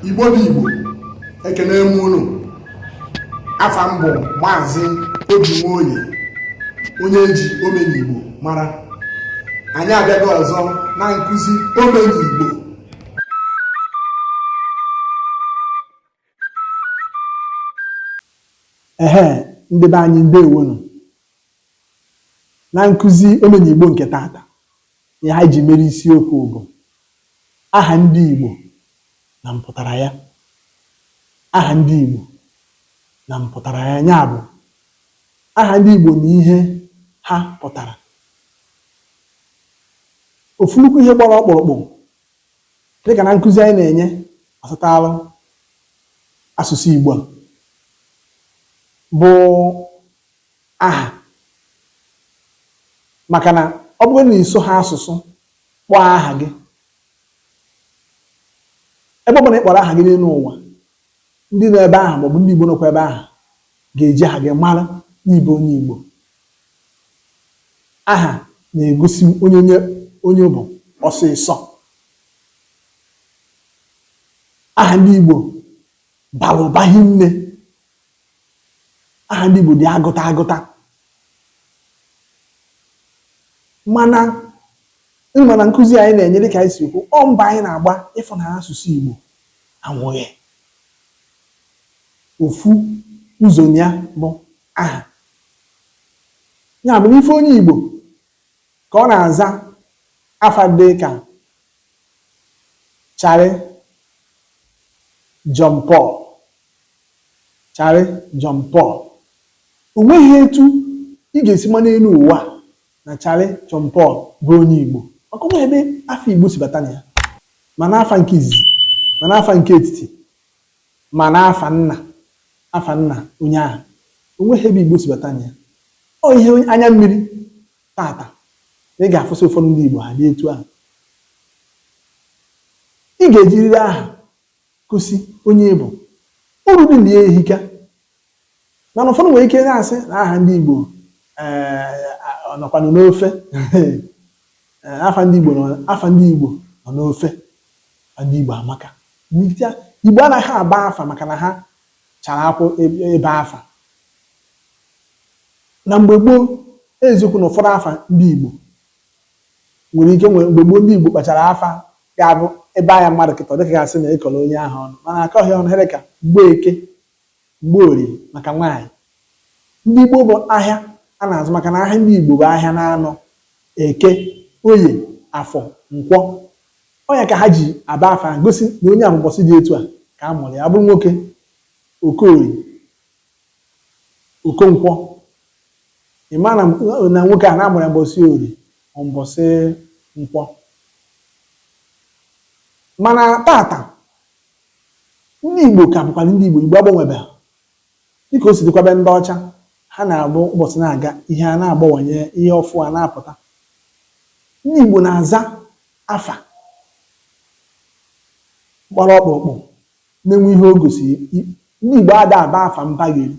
igbo bụ igbo ekene m unu afa m bụ maazị obi nwoye onye e ji omenigbo mara anyị abịago ọzọ na nkụzi omenigbo Ehe ndị be anyị ndewonu. Na nkụzi omenigbo nke taata, ihe anyị ji mere isiokwu bụ aha ndị Igbo na mpụtara ya. Aha ndị Igbo na mpụtara ya ya bụ aha ndị Igbo na ihe ha pụtara. ofu nnukwu ihe gbara ọkpụrụkpụ dịka na nkụzi anyị na-enye gbasataalụ asụsụ Igbo a bụ aha maka na ọ bụrụ na ị sụghị asụsụ kpọọ aha gị ebe ọ bụla ị kpọrọ aha gị n'elu ụwa ndị nọ ebe ahụ maọbụ ndị Igbo nọkwa ebe ahụ ga-eji aha gị mara na ị bụ onye Igbo Aha na-egosi onye onye bụ ọsịsọ. Aha ndị Igbo bara ụba hinne. Aha ndị Igbo dị agụta agụta. Mana ị ma na nkụzi anyị na-enye dịka anyị si kwu, ọ mbọ anyị na-agba ịfụ na asụsụ Igbo anwụghị. Ofu ụzọ na ya bụ aha. Ya mere, ị fụ onye Igbo ka ọ na-aza afa dị ka Charlie John Paul, Charlie John Paul. O nweghị etu ị ga-esi ma n'elu ụwa na Charlie John Paul bụ onye Igbo maka o nweghị ebe afa Igbo si bata na ya ma n'afa nke izizi ma n'afa nke etiti Ma n'afa Nna, afa Nna onye ahụ, o nweghị ebe Igbo si bata na ya. Ọ ihe anya mmiri taata na ị ga-afụsị ụfọdụ ndị Igbo ha dị etu ahụ. Ị ga-ejiriri aha gosi onye ị bụ. Uru dị na ya ehika. Mana ụfọdụ nwere ike na-asị na aha ndị Igbo eh, ọ nọkwanụ n'ofe eh, afa ndị Igbo nọ- afa ndị Igbo nọ n'ofe afa ndị Igbo amaka N'ezie, Igbo anaghị aba afa maka na ha chara akwụ ebe ebe afa na mgbe gboo eziokwu na ụfọdụ afa ndị Igbo nwere ike nwere mgbe gboo ndị Igbo kpachara afa ga-abụ ebe anya mmadụ kịta ọ dịka gasị na ịkọrọ onye ahụ ọnụ mana akọghị ọnụ ihe dị ka Mgbeke Mgborie maka nwaanyị. Ndị Igbo bụ ahịa a na-azụ maka na ahịa ndị Igbo bụ ahịa n'anọ, Eke, Oye, Afọ, Nkwọ. Ọ ya ka ha ji aba afa ahụ gosi na onye a bụ ụbọchị dị etu a ka a mụrụ ya. Ọ bụrụ nwoke, Okorie, Okonkwọ. Ị maa na nwoke a na a mụrụ ya mbọsị Orie ma mbọsị Nkwọ. Mana tata, Ndị Igbo ka bụkwanụ ndị Igbo. Igbo agbanwebeghị. Dị ka o si dịkwa be ndị ọcha, ha na-abụ ụbọchị na-aga, ihe a na-agbawanye, ihe ọfụụ a na-apụta. Ndị Igbo na-aza afa gbara ọkpụrụkpụ na-enwe ihe o gosiri. Ndị Igbo ada aba afa mbagheri.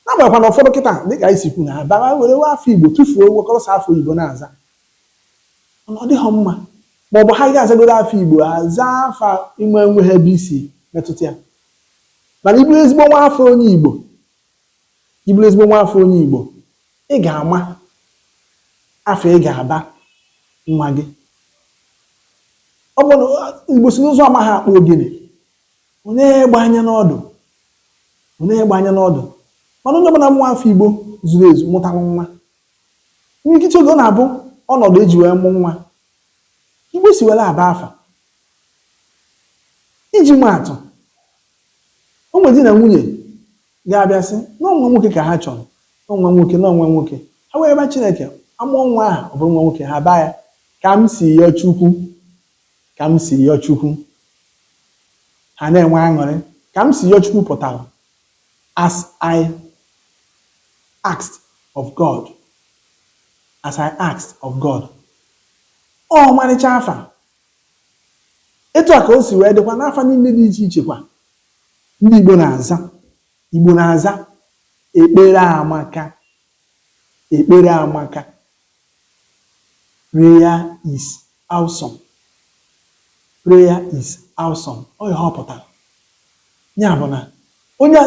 N'agbanyeghịkwa na ụfọdụ kịta, dị ka anyị si kwu na ha bara were wee afa Igbo tụfuo wekọrọsịa afa oyibo na-aza. Ọ dịghọ mma. Ma ọ bụ ha ga-azagoro afa Igbo, ha zaa afa ị ma o nweghị ebe o si metụta ya. Mana ị bụrụ ezigbo nwa afọ onye Igbo, ị bụrụ ezigbo nwa afọ onye Igbo, ị ga-ama afa ị ga-aba nwa gị. Ọ bụ na Igbo sị na ụzụ amaghị akpụ ogene, o nee egbe anya n'ọdụ, o nee egbe anya n'ọdụ. Mana onye ọbụla bụ nwa afọ Igbo zuru ezu mụtara nwa, Imirikiti oge ọ na-abụ ọnọdụ e ji wee mụ nwa ka Igbo si were aba afa. Iji maa atụ, o nwere di na nwunye ga-abịa sị na ọ nwa nwoke ka ha chọrọ, na ọ nwa nwoke, na ọ nwa nwoke. Ha wee rịọba Chineke, a mụọ nwa ahụ, ọ bụrụ nwa nwoke, ha abaa ya ka m si yọọ Chukwu, ka m si yọọ Chukwu. Ha na-enwe aṅụrị. Ka m si yọọ Chukwu pụtara As I asked of God, as I asked of God. Ọ ọmarịcha afa. Etu a ka o si wee dịkwa n'afa niile dị iche iche kwa ndị Igbo na-aza. Igbo na-aza ekpere amaka, ekpere amaka. Prayer is awesome. Prayer is awesome. Ọ ihe ọ pụtara. Ya bụ na onye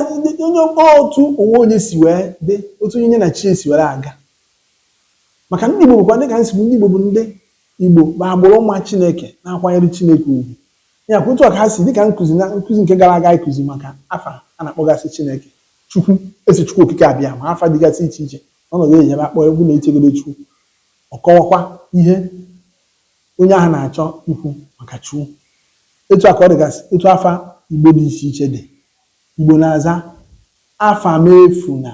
onye otu onwe onye si wee dị otu onye nye na chi si were aga maka ndị Igbo bụkwa dịka nsogbu ndị Igbo bụ ndị Igbo bụ agbụrụ ma Chineke na-akwanyere Chineke ugwu ya kwa otu a ka ha si dịka nkụzi na nkụzi nke gara aga ịkụzi maka afa a na-akpọgasị Chineke Chukwu Eze Chukwu Okike Abịama afa dịgasị iche iche Ọnọdụ e ji ebe a kpọọ ya bụ na e chegodị Chukwu, ọ kọwakwa ihe onye ahụ na-achọ ikwu maka Chukwu. Etu a ka ọ dịgasị otu afa Igbo dị iche iche dị. Igbo na-aza Afamefuna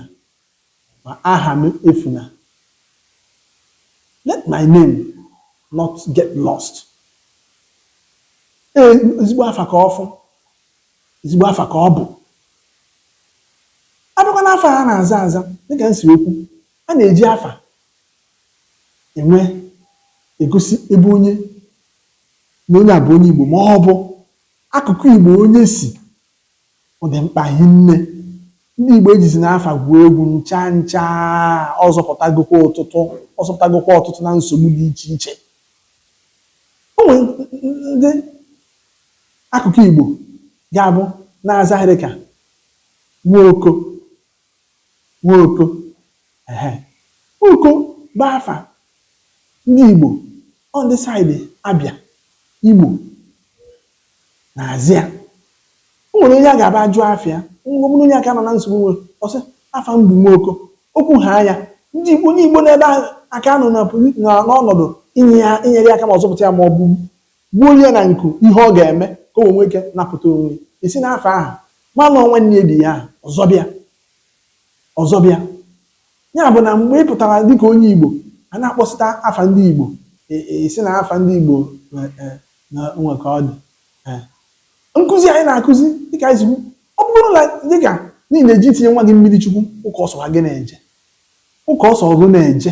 ma Ahamefuna, Let my name not get lost. Ee, ezigbo afa ka ọ bụ. Ezigbo afa ka ọ bụ. A bịakwa n'afa a na-aza aza, dịka m siri kwu, a na-eji afa ewe egosi ebe onye na onye a bụ onye Igbo ma ọ bụ akụkụ Igbo onye si. Ọ dị mkpa hinne. Ndị Igbo ejizina afa gwuo egwu ncha ncha. Ọ zọpụtagokwa ọtụtụ ọ zọpụtagokwa ọtụtụ na nsogbu dị iche iche. O nwere ndị akụkụ Igbo ga-abụ na-aza ihe dịka Nwoko Nwoko ehe. Nwoko bụ afa ndị Igbo, ọ ndị side Abịa, Imo na-aza ya. O nwere onye a ga-abụ a jụọ afa ya, ọ bụrụ onye aka nọ na nsogbu nwere, ọ sị, afa m bụ Nwoko. O kwuhaa ya, ndị Igbo onye Igbo nọ ebe ahụ aka nọ na posi na n'ọnọdụ inye ya inyere ya aka ma ọ zọpụta ya maọbụ Gbuo ya na nku, ihe ọ ga-eme ka o wee nwee ike napụta onwe ya. E si n'afa ahụ malụ ọ nwanne ya di ya ahụ ọzọ bịa. Ọzọ bịa. Ya bụ na mgbe ị pụtara dịka onye Igbo, a na-akpọsịta afa ndị Igbo, e e sị na afa ndị Igbo e e na o nwere ka ọ dị. E Nkụzi anyị na-akụzi dịka anyị si kwu, ọ bụrụ na dịka na ị na-eje itinye nwa gị mmiri chukwu ụka ọ sọwa gị na-eje. Ụka ọ sọwa gị na-eje.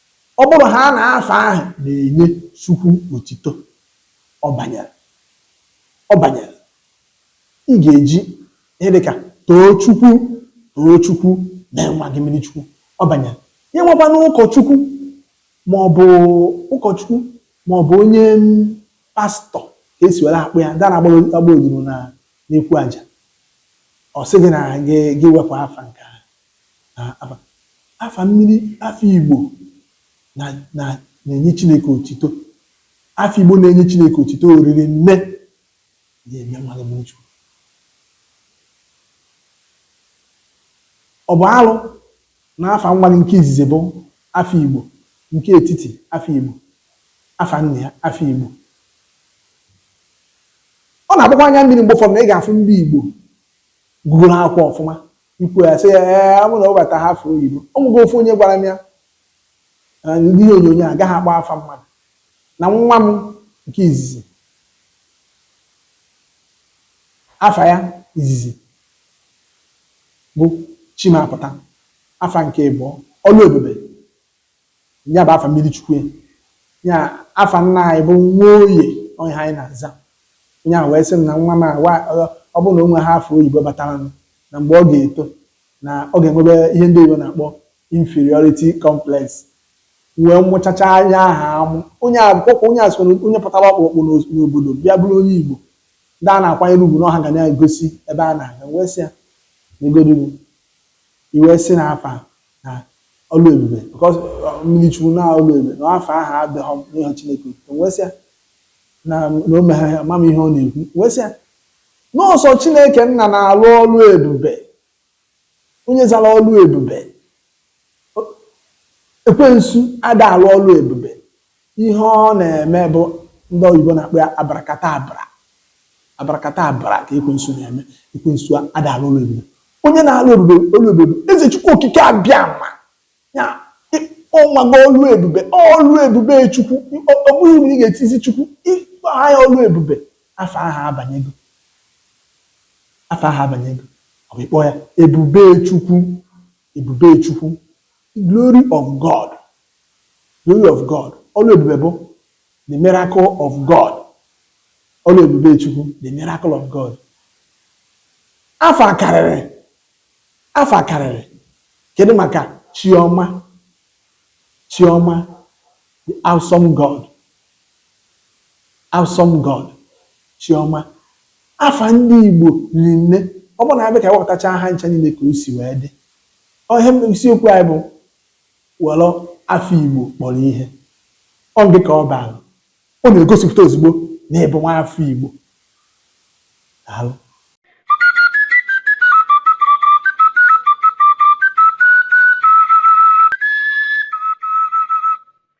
Ọ bụrụhaa na afa ahụ na-enye Chukwu otito, ọ banyere. Ọ banyere. Ị ga-eji ihe dị ka Tochukwu, Tochukwu, mee nwa gị mmiri Chukwu. Ọ banyere. Ya enwekwanụ ụkọchukwu ma ọ bụ ụkọchukwu ma ọ bụ onye pastọ ka e si were akpọ ya, ndị na-agba odibo na n'ekwu aja. Ọ sị gị na gị gị wepụ afa nke ahụ. na afa afa mmiri afa Igbo na na na-enye Chineke otito afa Igbo na-enye Chineke otito o riri nne ya eme mmadụ mmiri Chukwu ọ bụ alụ na afa nwa gị nke izizi bụ afa Igbo nke etiti afa Igbo afa nna ya afa Igbo ọ na-agbakwa anya mmiri mgbe ụfọdụ na ị ga-afụ ndị Igbo gụgụrụ akwụkwọ ọfụma ikwu ya sị ya ee ọ bụrụ na ọ bata ha afa oyibo o nwego ofu onye gwara m ya na ndị ihe onyonyo agaghị akpọ afa mmadụ na nwa m nke izizi afa ya izizi bụ Chimapụta afa nke ịbụọ ọlụ ebube Ya bụ afa mmiri chukwu ya afa nna anyị bụ Nwoye onye anyị na-aza onye ahụ wee sị m na nwa m a ọ bụrụ na o nwe ha afa oyibo bataranụ na mgbe ọ ga-eto na ọ ga-enwebe ihe ndị oyibo na-akpọ inferiority complex wee mụchacha anya aha amụ onye akwụkwọ onye a soro onye pụtara ọkpụrụkpụ n'obodo bịa bụrụ onye Igbo ndị a na-akwanyere ugwu n'ọha ga na-egosi ebe a na-aga wee sị ya negodu i wee sị na afa na ọlụ ebube because mmiri chukwu na ọlụ ebube na afa ahụ adịghọ m n'ihu Chineke otuto m wee sị ya na na o meghe ama m ihe ọ na-ekwu m wee sị ya na ọ sọ Chineke nna na-alụ ọlụ ebube onye zara ọlụ ebube ekwensu ada alụ ọlụ ebube Ihe ọ na-eme bụ ndị oyibo na-akpọ ya abarakatabra. Abarakatabra ka ekwensu na-eme. Ekwensu ada alụ ọlụ ebube. Onye na-alụ ebube ọlụ ebube bụ Eze Chukwu Okike Abịama. Ya ọ mago ọlụ ebube. Ọ ọlụ ebube Chukwu. Ọ ọ bụghị na ị ga-etizi Chukwu. Ị kpọọ ya ọlụ ebube, afa ahụ abanyego. Afa ahụ abanyego. Ọ bụ ị kpọọ ya ebube Chukwu. Ebube Chukwu, the glory of God, glory of God, ọlụ ebube bụ the miracle of God, ọlụ ebube Chukwu, the miracle of God. Afa akarịrị, afa akarịrị, kedu maka Chiọma, Chiọma, the awesome God, Awesome God, Chiọma, afa ndị Igbo riri nne, ọ bụrụ na anyị bịa ka anyị wepụtachaa ha ncha niile ka o si wee dị. Ọ ihe m- isiokwu anyị bụ were afa Igbo kpọrọ ihe. Ọ gị ka ọ baara. Ọ na-egosipụta ozugbo na ị bụ nwa afọ Igbo. Daalụ.